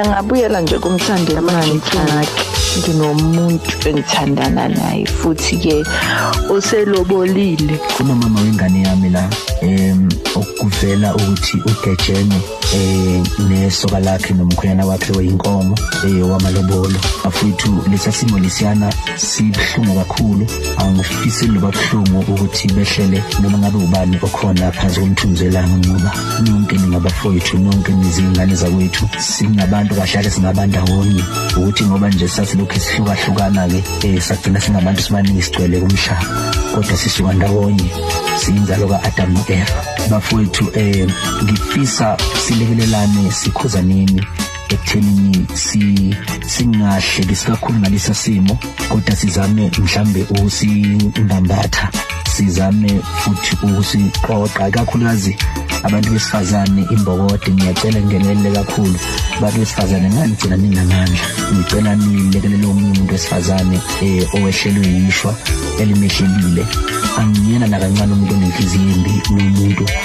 engabuyela nje kumhlanje manje thakhe nginomuntu engithandana naye futhi ke uselobolile kunomama wengane yami la em okuvela ukuthi ugejene eh nesoka lakhe nomkhwenyana wakhe weyinkomo eh wamalobolo afuthu lesa simo lesiyana sibhlungu kakhulu angifisi loba kuhlungu ukuthi behlele noma ngabe ubani okhona phansi komthunzi elanga ngoba nonke ningabafowethu nonke nizingane zakwethu singabantu kahlale singabandawonye ukuthi ngoba nje sasilokhu sihlukahlukana-ke um eh, sagcina singabantu sibaningi sigcwele kumhlaba kodwa sisuka ndawonye siyinzalo ka-adamu no-eva bafowethu um ngifisa silekelelane sikhuzaneni ekuthenini si singahle kakhulu ngalesa simo kodwa sizame mhlambe ukusibambatha sizame futhi ukusiqoqa kakhulukazi abantu besifazane imbokode ngiyacela ngenelele kakhulu abantu besifazane ngani gcina ninamandla ngicela nilekelele omunye umuntu wesifazane eh owehlelwe yishwa elimehlelile angiyena nakancane umuntu onenhliziyo embi umuntu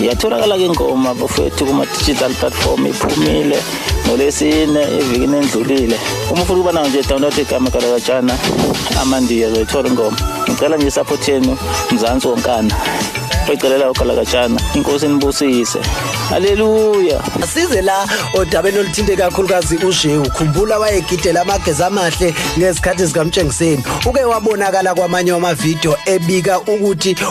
iyatholakala ke ngoma bafowethu kuma-digital platform iphumile ngolwesine evikini endlulile uma ufuna ukuba nayo nje download igama kalakajana amandiya zoyithola ingoma ngicela nje isaphothi yenu mzansi wonkana ecelela ugalakajana inkosi inibusise haleluya asize la odabeni oluthinte kakhulukazi ushe ukhumbula wayegidela amagezi amahle ngezikhathi zikamtshengiseni uke wabonakala kwamanye wamavidiyo ebika ukuthi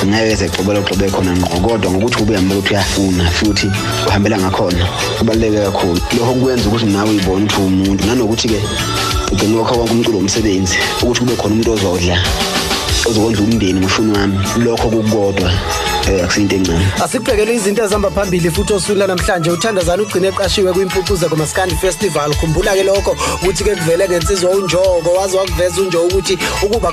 zingeke zexobela uxobe khona ngqo kodwa ngokuthi ubuye ambela ukuthi uyafuna futhi uhambela ngakhona kubaluleke kakhulu lokho kwenza ukuthi nawe uyibone ukuthi umuntu nanokuthi-ke ugcine wakho konke umculo womsebenzi ukuthi kube khona umuntu ozodla ozokondla umndeni ngifuna wami lokho kukodwa eh akusiyinto encane asibhekele izinto ezihamba phambili futhi oswini namhlanje uthandazana ugcine eqashiwe kwimpucuze komaskandi festival khumbula ke lokho ukuthi ke kuvele ngensizwa unjoko waze wakuveza unjoko ukuthi ukuba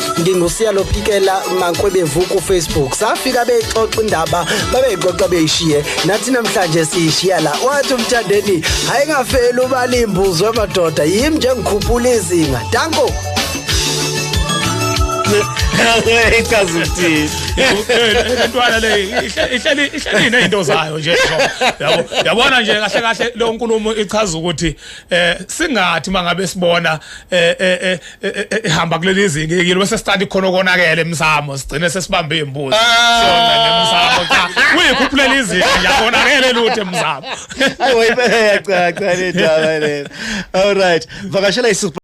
ngingusiya lophikela mankwebevu kufacebook safika beyixoxa indaba babeyixoxa beyishiye nathi namhlanje siyishiya la wathi umthandeni hayi ngafeli ubalimbuzwe amadoda yimi nje ngikhuphula izinga danko ichaza ukuthini intwana le ihleli ihleli nezinto zayo nje yabo yabona nje kahle kahle lo nkulumo ichaza ukuthi eh singathi mangabe sibona eh, eh, eh ehamba kuleli zinga yekile bese study khona konakele emsamo sigcine sesibambe imbuzi ah. sona nemsamo cha uyikhuphulele izinga yakonakele lutho emsamo ayi wayibeya cha cha le ndaba le all right vakashela isupha